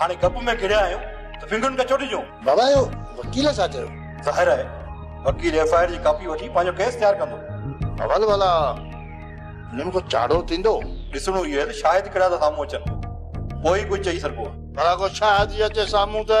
هاڻي گپ ۾ گهڙيا آهيون ته ونگن کي ڇو ڊڄون؟ بابا اهو وڪيل ڇا چيو؟ ظاهر آهي وڪيل ايف آء آر جي ڪاپي وٺي پنهنجو ڪيس تيار ڪندو. اول ڀلا هن ۾ ڪو چاڙهو ٿيندو؟ ڏسڻو هي آهي ته شاهد ڪهڙا ٿا سامهون اچن پوء ئي ڪجهه چئي سگهبو. ڀلا ڪو شاهد ئي اچي سامهون ته.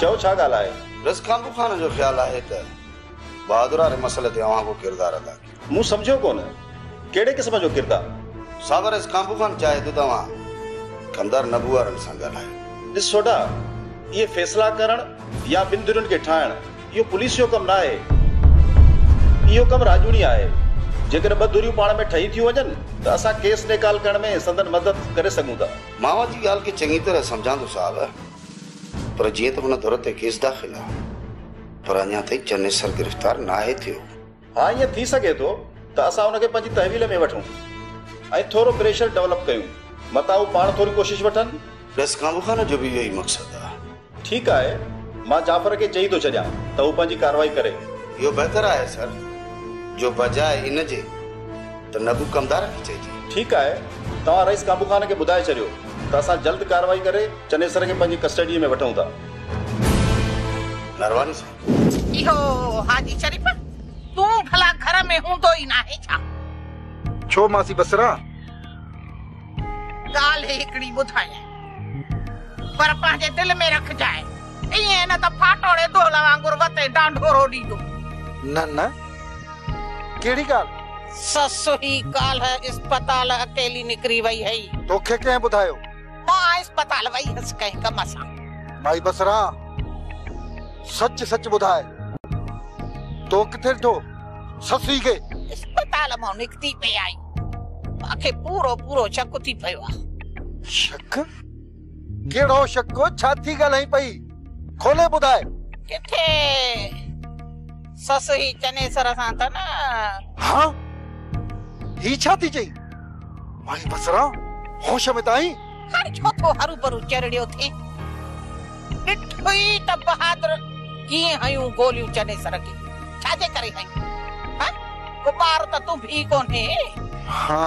چئو ڇا ڳالهه آهي؟ رض کانپو خان جو خيال آهي ته بهادرا ري مسئلي تي اوهان ڪو ڪردار ادا ڪيو. مون سمجهيو ڪونه ڪهڙي قسم جو ڪردار؟ صاحب رض کانپو خان چاهي ٿو ته اوهان ڪمدار نبو وارن سان ڳالهايو. ڏس سوڍا اهي فيصلا ڪرڻ يا ٻن ڌرين کي ٺاهڻ اهو پوليس جو ڪم ناهي. اهو ڪم راڄوڻي آهي. جيڪڏهن ٻه ڌريون پاڻ ۾ ٺهي ٿيون وڃن ته اسان ڪيس نيڪال ڪرڻ ۾ سندن مدد ڪري سگهون ٿا. مان اوهان جي ڳالهه کي چڱي طرح سمجهان ٿو صاحب. پر جيئن ته هن ڌر تي ڪيس داخل آهي، پر اڃا تائين چنيسر گرفتار ناهي ٿيو. ها ائين ٿي سگهي ٿو ته اسان ان کي پنهنجي تحويل ۾ وٺون ۽ ٿورو پريشر ڊولپ ڪيون، متان هو پاڻ ٿوري ڪوشش وٺن. ڏس ڪانبوخان جو به اهو ئي مقصد آهي. ٺيڪ آهي، مان جعفر کي چئي ٿو ڇڏيان ته هو پنهنجي ڪارروائي ڪري. اهو بهتر آهي سر، جو بجاء ان جي. ته نبو ڪمدارن کي چئجي. ٺيڪ آهي، توهان رئيس ڪانبو خان کي ٻڌائي ڇڏيو ته اسان جلد ڪارروائي ڪري چنيسر کي پنهنجي ڪسٽڊيء ۾ وٺون ٿا. نرواني سائين. اهو حاجي شريف، تون ڀلا گهر ۾ هوندو ئي ناهي ڇا؟ ڇو ماسي بصره؟ ڳالهه هڪڙي ٻڌايانء، پر پنهنجي دل ۾ رکجانء. ائين نه ته ڦاٽوڙي دول وانگر وتين ڊانڍورو ڏيندو. نه نه ڪهڙي ڳالهه؟ سس هي ڪالهه اسپتال اڪيلي نڪري وئي هئي. توکي ڪنهن ٻڌايو؟ مان اسپتال وئي هيس ڪنهن ڪم سان. مائي بصره سچ سچ ٻڌاء تو ڪٿي ڏٺو سس هي کي؟ اسپتال مان نڪتي پئي آئي. مان کي پورو پورو شڪ ٿي پيو آ. شڪ؟ ڪهڙو شڪ؟ ڇا ٿي ڳالهائين پئي؟ کولي ٻڌاء. ڪٿي سس هي چنيسر سان ته نه؟ ها؟ هي ڇا ٿي چئين؟ مائي بصره! هوش ۾ ته آهين؟ هاڻي ڇو ٿو هروڀرو چرڙيو ٿين؟ ڏٺوئي ته بهادر ڪيئن هنيون گوليون چنيسر کي. ڇا جي ڪري هنيون؟ ها؟ ڪو ٻار ته تون ڀي ڪونهي. ها.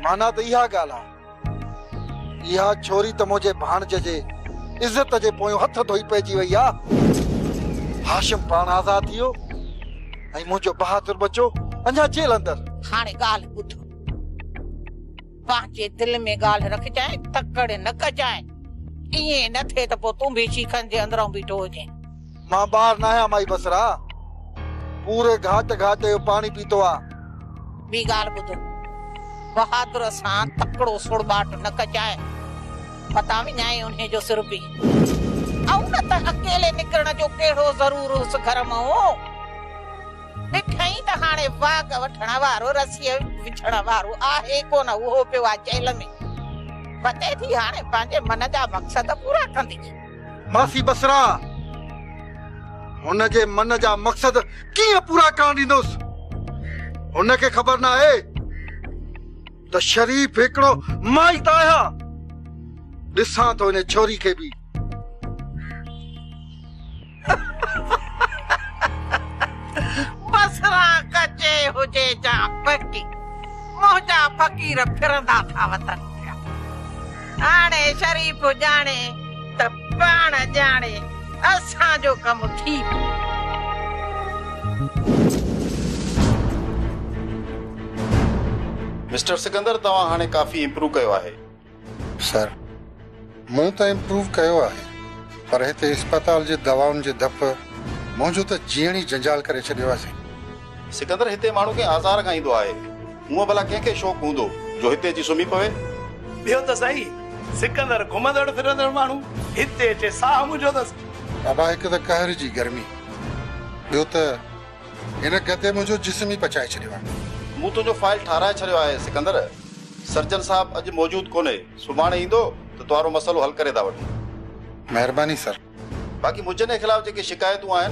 معنيٰ ته اها ڳالهه آهي. اها ڇوري ته منهنجي ڀاڻج جي عزت جي پويون هٿ ڌوئي پئجي وئي آ. هاشم پاڻ آزاد ٿي ويو ۽ منهنجو بهادر ٻچو اڃا جيل اندر. هاڻي ڳالهه ٻڌ. پنهنجي دل ۾ ڳالهه رکجانء، تڪڙ نه ڪجانء. ائين نه ٿئي ته پوء تون به شيخن جي اندرئون بيٺو هجين. مان ٻار ناهيان مائي بصرا. پوري گهاٽ گهاٽ جو پاڻي پيتو آ. ٻي ڳالهه ٻڌ. بهادر سان تڪڙو سڙٻاٽ نه ڪجانء. متان وڃائي انهي جو سر به. آئون نه ته اڪيلي نڪرڻ جو ڪهڙو ضرور هوس گهر مئون. ڏٺئين ته هاڻي واڳ وٺڻ وارو رسيء وجهڻ وارو آهي ڪونه اهو پيو آ جيل ۾. وتي ٿي هاڻي پنهنجي من جا مقصد پورا ڪندي. ماسي بصرا هن جي من جا مقصد ڪيئن پورا ڪرڻ ڏيندوس هن کي خبر ناهي ته شريف هڪڙو مائي ته آهيان ڏسان ٿو ان ڇوري کي به بصرا ڪچي هجي جا پڪي منهنجا فقير ڦرندا ٿا وتن هاڻي شريف ڄاڻي ته پاڻ ڄاڻي اسان جو ڪم ٿي پيو. مسٽر سڪندر توهان هاڻي ڪافي امپروو ڪيو آهي. سر مون ته امپروو ڪيو آهي پر هتي اسپتال جي دوائن جي ڌپ منهنجو ته جيئڻ ئي جنجال ڪري ڇڏيو آهي سائين. سڪندر هتي ماڻهو ڪنهن آزار کان ايندو آهي. هونء ڀلا ڪنهن کي شوق هوندو جو هتي اچي سمهي پوي؟ ٻيو ته سهي، سڪندر گهمندڙ ڦرندڙ ماڻهو، هتي اچي ساهه منجهو اٿس. بابا هڪ ته قهر جي گرمي، ٻيو ته هن گدي منهنجو جسم ئي پچائي ڇڏيو آهي. مون تنهنجو فائل ٺاهرائي ڇڏيو آهي سڪندر. سرجن صاحب اڄ موجود ڪونهي، سڀاڻي ايندو ته تنهارو مسئلو حل ڪري ٿا وٺون. مهرباني سر. باقي مجني خلاف جيڪي شڪايتون آهن،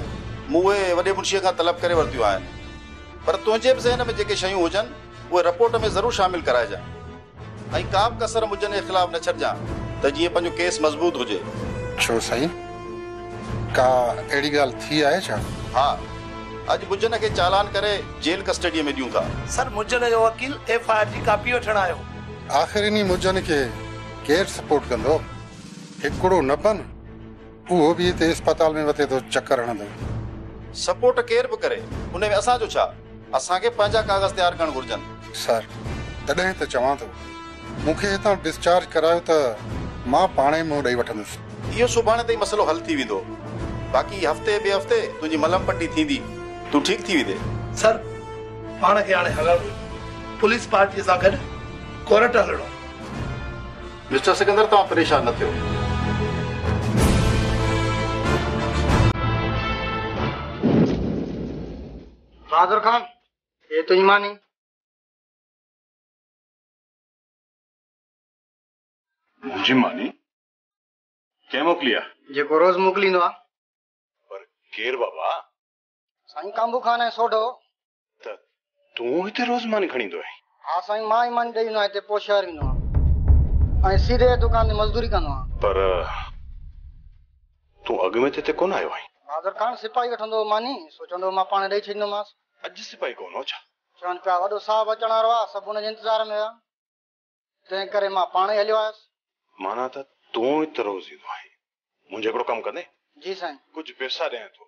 مون اهي وڏي منشيء کان طلب ڪري ورتيون آهن. پر تنهنجي به ذهن ۾ جيڪي شيون هجن، اهي رپورٽ ۾ ضرور شامل ڪرائجان. ۽ ڪا به ڪسر مجني خلاف نه ڇڏجان، ته جيئن پنهنجو ڪيس مضبوط هجي. ڇو سائين؟ ڪا اهڙي ڳالهه ٿي آهي ڇا؟ ها. اڄ مجني کي چالان ڪري جيل ڪسٽڊيء ۾ ڏيون ٿا. سر، مجني جو وڪيل ايف آء آر جي ڪاپي وٺڻ آيو. آخر انهي مجني کي ڪير سپورٽ ڪندو؟ هڪڙو نه بنهه اهو به هتي اسپتال ۾ وتي ٿو چڪر هڻندو. سپورٽ ڪير به ڪري ان ۾ اسان جو ڇا؟ اسان کي پنهنجا ڪاغذ تيار ڪرڻ گهرجن. سر، تڏهن ته چوان ٿو. مون کي هتان ڊسچارج ڪرايو ته مان پاڻ ئي منهن ڏئي وٺندس. اهو سڀاڻي تائين مسئلو حل ٿي ويندو. باقي هفتي ٻئي هفتي تنهنجي ملهه پٽي ٿيندي. تون ٺيڪ ٿي ويندين. سر، پاڻ کي هاڻي هلڻ ڏيو. پوليس پارٽيء سان گڏ ڪورٽ هلڻو. مسٽر سڪندر توهان پريشان نه ٿيو. بهادر خان هي تنهنجي ماني. منهنجي ماني؟ ڪنهن موڪلي آ؟ جيڪو روز موڪليندو آ. پر ڪير بابا؟ سائين ڪانڀو خان ۽ سوڍو. ته تون هتي روز ماني کڻي ايندو آهين؟ ها سائين مان ئي ماني ڏئي ايندو آهيان هتي پوء شهر ويندو آهيان ۽ سيري دڪان تي مزدوري ڪندو آهيان. پر تون اڳ ۾ ته هتي ڪونه آيو آهين؟ بهادر خان سپاهي وٺندو هو ماني سو چوندو هو مان پاڻ ڏئي ڇڏيندومانس. اڄ سپاهي ڪونه هو ڇا؟ چون پيا وڏو صاحب اچڻ وارو آهي سڀ ان جي انتظار ۾ هيا. تنهن ڪري مان پاڻ ئي هليو آيس. معنيٰ ته تون ئي تروز ايندو آهين. منهنجو هڪڙو ڪم ڪندين؟ جي سائين. ڪجهه پئسا ڏيان ٿو.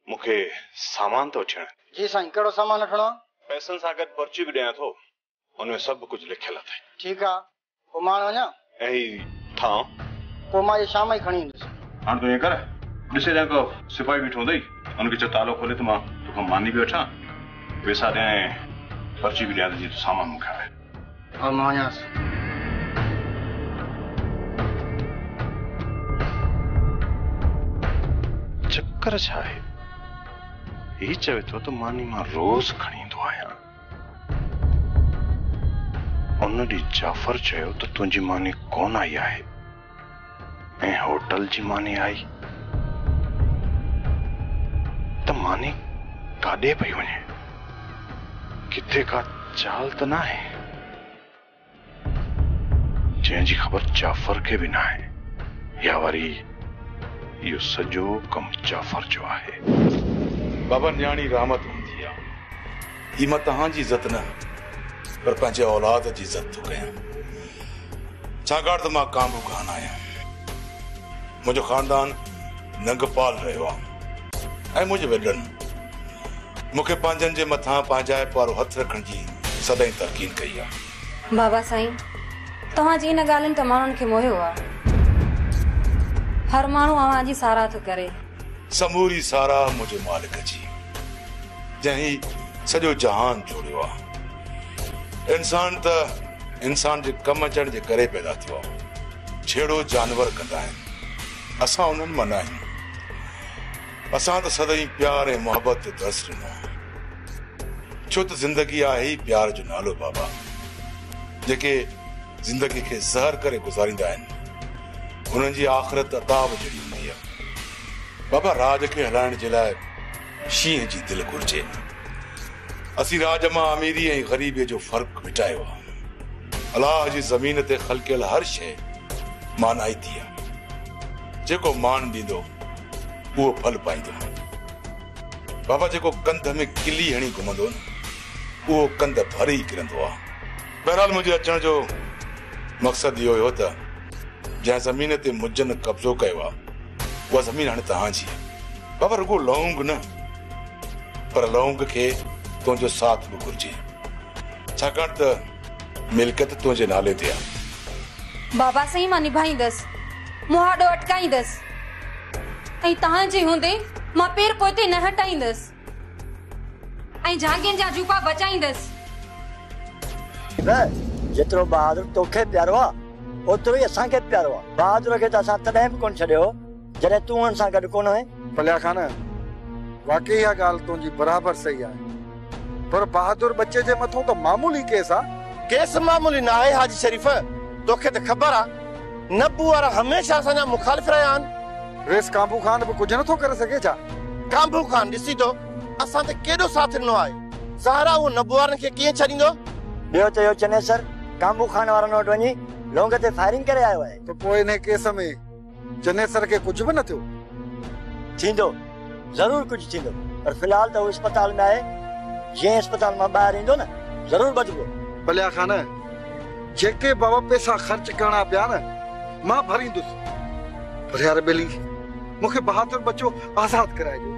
مون کي سامان ته وٺي آڻين. جي سائين. ڪهڙو سامان وٺڻو آهي؟ پئسن سان گڏ پرچي به ڏيان ٿو. ان ۾ سڀ ڪجهه لکيل اٿئي. ٺيڪ آهي. پوء مان هاڻ وڃان؟ ۽ هي ٿانء؟ پوء مان اهي شام ئي کڻي ايندس. هاڻ تون ائين ڪر، ڏسي جانڪو سپاهي بيٺو هوندئي. هن کي چيو تالو کولي ته مان تو کان ماني به وٺان، پيسا ڏيان ۽ پرچي به ڏيان ته جيئن تون سامان مون کي آڻي ڏي. هاڻ مان وڃان ٿو. چڪر ڇا آهي؟ هي چوي ٿو ته ماني مان روز کڻي ايندو آهيان. ان ڏي جعفر چيو ته تنهنجي ماني ڪونه آئي آهي ۽ هوٽل جي ماني آئي ته ماني ڪاڏي پئي وڃي ڪٿي ڪا چال ته ناهي. جنهن جي خبر جعفر کي به ناهي يا وري اهو سڄو ڪم جعفر جو آهي. بابا نياڻي رحمت هوندي آ هي مان توهان جي عزت نه پر پنهنجي اولاد جي عزت ٿو ڪيان ڇاڪاڻ ته مان ڪانگو ڪانه آهيان. منهنجو خاندان ننگپال رهيو آهي ۽ منهنجي وڏڙن مون کي پنهنجن جي مٿان پنهنجائپ وارو هٿ رکڻ جي سدائين تلقين ڪئي آهي. بابا سائين، توهان جي ان ڳالهين ته ماڻهن کي موهيو آهي. هر ماڻهو اوهان جي ساراهه ٿو ڪري. سموري ساراهه منهنجي مالڪ جي، جنهن هي سڄو جهان جوڙيو آهي. انسان ته انسان جي ڪم اچڻ جي ڪري پيدا ٿيو آهي. جھڙو جانور ڪندا آهن، اسان انهن مان ناهيون. اسان ته سدائين پيار ۽ محبت تي درس ڏنو آهي. ڇو ته زندگي آهي ئي پيار جو نالو بابا. جيڪي زندگي کي زهر ڪري گذاريندا آهن، انهن جي آخرت عذاب جھڙي هوندي آهي. بابا راڄ کي هلائڻ جي لاء شينهن جي دل گهرجي. اسين راڄ مان اميري ۽ غريبي جو فرق مٽايو آ. الله جي زمين تي خلقيل هر شيء مانائتي آ. جيڪو مان ڏيندو اهو ڦل پائيندو. بابا جيڪو ڪنڌ ۾ ڪلي هڻي گهمندو نه اهو ڪنڌ ڀري ئي ڪرندو آ. بهرحال منهنجي اچڻ جو مقصد اهو هو ته جنهن زمين تي مجن قبضو ڪيو آهي اها زمين هاڻي توهان جي آهي. بابا رڳو لونگ نه پر لونگ کي تنهنجو ساٿ به گهرجي ڇاڪاڻ ته ملڪيت تنهنجي نالي تي آهي. بابا سائين مان نڀائيندس، مهاڏو اٽڪائيندس ۽ توهان جي هوندي مان پير پوئتي نه هٽائيندس. ۽ جهانگين جا جوپا بچائيندس. نه جيترو بهادر توکي پيارو آ اوترو ئي اسان کي به پيارو آ. بهادر کي ته اسان تڏهن به ڪونه ڇڏيو هو جڏهن تون هن سان گڏ ڪونه هئين. پليا خان، واقعي اها ڳالهه تنهنجي برابر صحيح آهي. پر بهادر ٻچي جي مٿون ته معمولي ڪيس آ. ڪيس معمولي ناهي حاجي شريف، توکي ته خبر آ. نبو وارا هميشه اسان جا مخالف رهيا آهن. ويس ڪانڀو خان به ڪجهه نٿو ڪري سگهي ڇا؟ ڪانڀو خان ڏسي ٿو اسان تي ڪيڏو ساٿ ڏنو آهي. زهره اهو نبو وارن کي ڪيئن ڇڏيندو؟ ٻيو ته اهو چنيسر ڪانڀو خان وارن وٽ وڃي لونگ تي فائرنگ ڪري آيو آهي. ته پوء انهي ڪيس ۾ چنيسر کي ڪجهه به نه ٿيو؟ ٿيندو. ضرور ڪجهه ٿيندو پر في الحال ته هو اسپتال ۾ آهي جئين اسپتال مان ٻاهر ايندو نه ضرور ٻڌبو. پليا خان جيڪي به پيسا خرچ ڪرڻا پيا نه مان ڀريندس پر يار ٻيلي مون کي بهادر ٻچو آزاد ڪرائي ڏيو.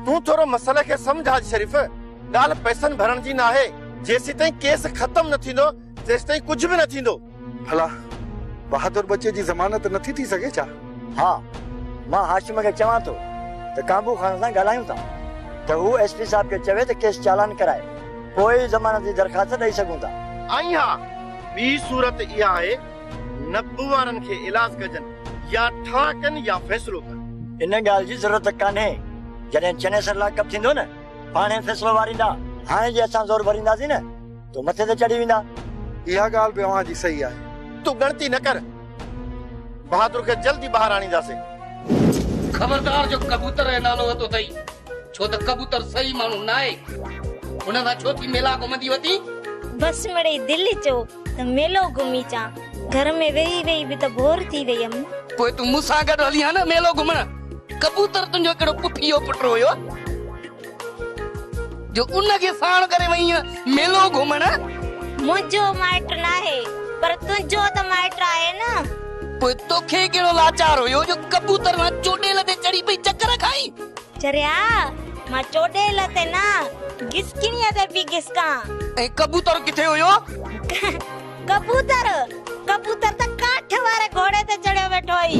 تون ٿورو مسئلي کي سمجهه حاجي شريف ڳالهه پيسن ڀرڻ جي ناهي جيسيتائين ڪيس ختم نه ٿيندو تيستائين ڪجهه به نه ٿيندو. ڀلا بهادر ٻچي جي ضمانت نٿي ٿي سگهي ڇا؟ ها، مان هاشم کي چوان ٿو ته ڪانبو خان سان ڳالهايون ٿا ته هو ايس پي صاحب کي چوي ته ڪيس چالان ڪرائي، پوء ئي ضمانت جي درخواست ڏئي سگهون ٿا. ۽ ها، ٻي صورت اها آهي، نبو وارن کي ايلاز ڪجن، يا ٺاهه ڪن يا فيصلو ڪن. ان ڳالهه جي ضرورت ڪانهي، جڏهن چنيسر لاڪ اپ ٿيندو نه، پاڻهي فيصلو واريندا. هاڻي جي اسان زور ڀرينداسين نه. تو مٿي تي چڙهي ويندا. اها ڳالهه به اوهان جي صحيح آهي. تون ڳڻتي نه ڪر. بهادر کي جلد ئي ٻاهر آڻينداسين. خبردار جو ڪبوتر ۽ نالو وتو اٿئي. ڇو ته ڪبوتر صحيح ماڻهو ناهي. هن سان ڇو ٿي ميلا گهمندي وتين. بس مڙئي دل چيو ته ميلو گهمي اچان. گهر ۾ ويهي ويهي به ته بور ٿي وئي هيم. پوء تون مون سان گڏ هلي ها نه ميلو گهمڻ. ڪبوتر تنهنجو ڪهڙو پڦيو پٽ هيو. جو ان کي ساڻ ڪري وئينء ميلو گهمڻ. منهنجو مائٽ ناهي، پر تنهنجو ته مائٽ آهي نه. پوء توکي ڪهڙو لاچار هيو جو ڪبوتر وان چوڏيل تي چڙهي پئي چڪر کائين؟ چريا، مان چوڏيل تي نه، گسڪڻيء تي پئي گسڪان. ۽ ڪبوتر ڪٿي هيو؟ ڪبوتر، ڪبوتر ته ڪاٺ واري گهوڙي تي چڙهيو ويٺو هئي.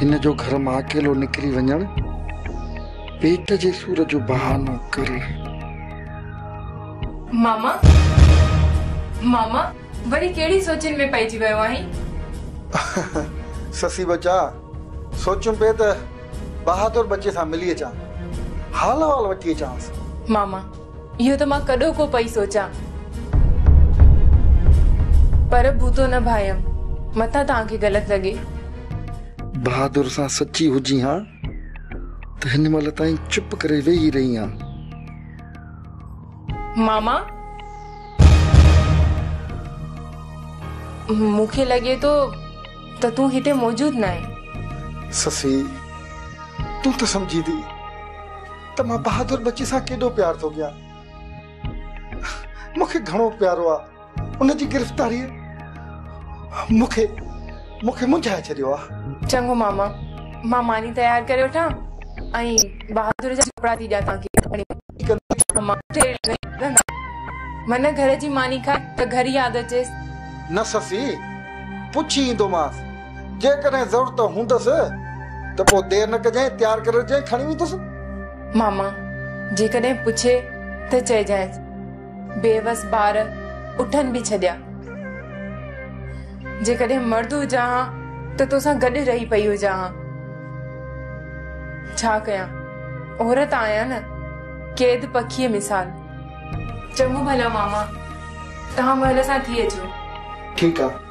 هن جو گهر مان اڪيلو نڪري وڃڻ پيٽ جي سور جو بهانو ڪري. ماما ماما وري ڪهڙي سوچين ۾ پئجي ويو آهين. سسي ٻچا سوچيم پئي ته بهادر ٻچي سان ملي اچان حال احوال وٺي اچانس. ماما اهو ته مان ڪڏهو ڪو پئي سوچان. پر بوتو نه ڀايم، متان توهان کي غلط لڳي. بهادر سان سچي هجين ها ته هن مهل تائين چپ ڪري ويهي رهين ها. ماما، مون کي لڳي ٿو ته تون هتي موجود ناهين. سسئي، تون ته سمجهين ٿي. ته مان بهادر ٻچي سان ڪيڏو پيار ٿو ڪيان. مون کي گهڻو پيارو آ. ان جي گرفتاريء مون کي مون کي منجهائي ڇڏيو آ. چڱو ماما، مان ماني تيار ڪري وٺان ۽ بهادر جا ڪپڙا ٿي ڏيان توهان کي. من گهر جي ماني کائي ته گهر ياد اچيس. نه سسي، پڇي ايندومانس. جيڪڏهن ضرورت هوندس ته پوء دير نه ڪجانء، تيار ڪري رکجانء، کڻي ويندس. ماما جيڪڏهن پڇي ته چئجانئس. بيوس ٻار اٺن به ڇڏيا. جيڪڏهن مرد هجان ها ته توسان گڏ رهي پئي هجان ها. ڇا ڪيان، عورت آهيان نه، قيد پکيء مثال. چڱو ڀلا ماما، توهان مهل سان ٿي اچو. ٺيڪ آ.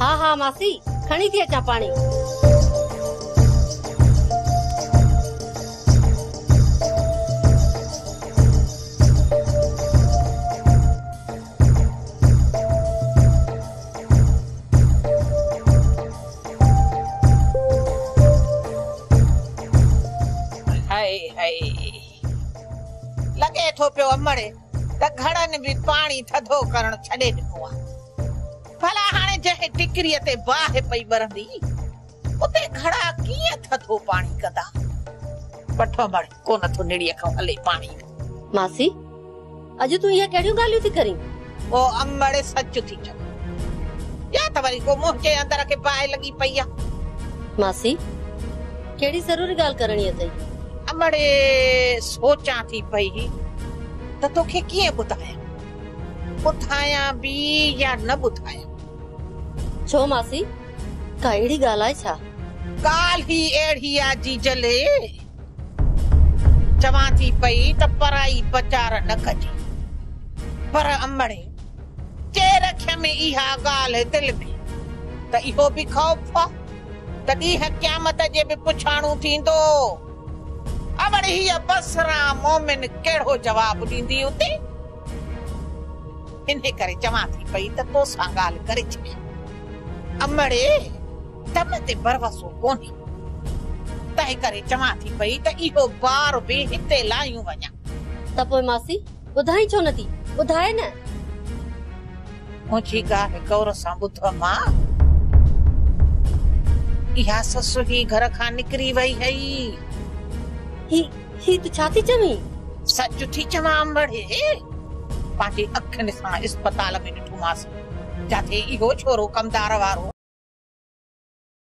ها ها ماسي کڻي ٿي اچان پاڻي. لڳي ٿو پيو امڙ ته گهڙن به پاڻي ٿڌو ڪرڻ ڇڏي ڏنو آهي. ڀلا هاڻي جنهن ٽڪريء تي باهه پئي ٻرندي، اتي گهڙا ڪيئن ٿڌو پاڻي ڪندا؟ بٺو مڙ ڪونه ٿو نڙيء کان هلي پاڻي ڏي. ماسي! اڄ تون اهي ڪهڙيون ڳالهيون ٿي ڪرين؟ او امڙ سچ ٿي چوين يا ته وري ڪو منهنجي اندر کي باهه لڳي پئي آ. ماسي! ڪهڙي ضروري ڳالهه ڪرڻي اٿئي؟ امڙ سوچان ٿي پئي ته توکي ڪيئن ٻڌايان. ٻڌايان به يا نه ٻڌايان؟ ڇو ماسي، ڪا اهڙي ڳالهه آهي ڇا؟ ڳالهه ئي اهڙي آ جيجلي. چوان ٿي پئي ته پرائي پچار نه ڪجي. پر امڙي، جي رکيم اها ڳالهه دل ۾ ته اهو به خوف آ ته ڏينهن قيامت جي به پڇاڻو ٿيندو. اوڙي هيء بصره مومن ڪهڙو جواب ڏيندي اتي؟ انهي ڪري چوان ٿي پئي ته تو سان ڳالهه ڪري ڇڏيان. امڙي! تن تي ڀروسو ڪونهي. تنهن ڪري چوان ٿي پئي ته اهو بار به هتي لاهيون وڃان. ته پوء ماسي! ٻڌائين ڇو نٿي، ٻڌاء نه! مون جي ڪا هڪ اور سان ٻڌ امان! اها سس هي گهر کان نڪري وئي هئي. هي، هي تون ڇا ٿي چوين؟ سچ ٿي چوان امڙي! پنهنجي اکين سان اسپتال ۾ ڏٺومانس، جتي اهو ڇورو ڪمدار وارو.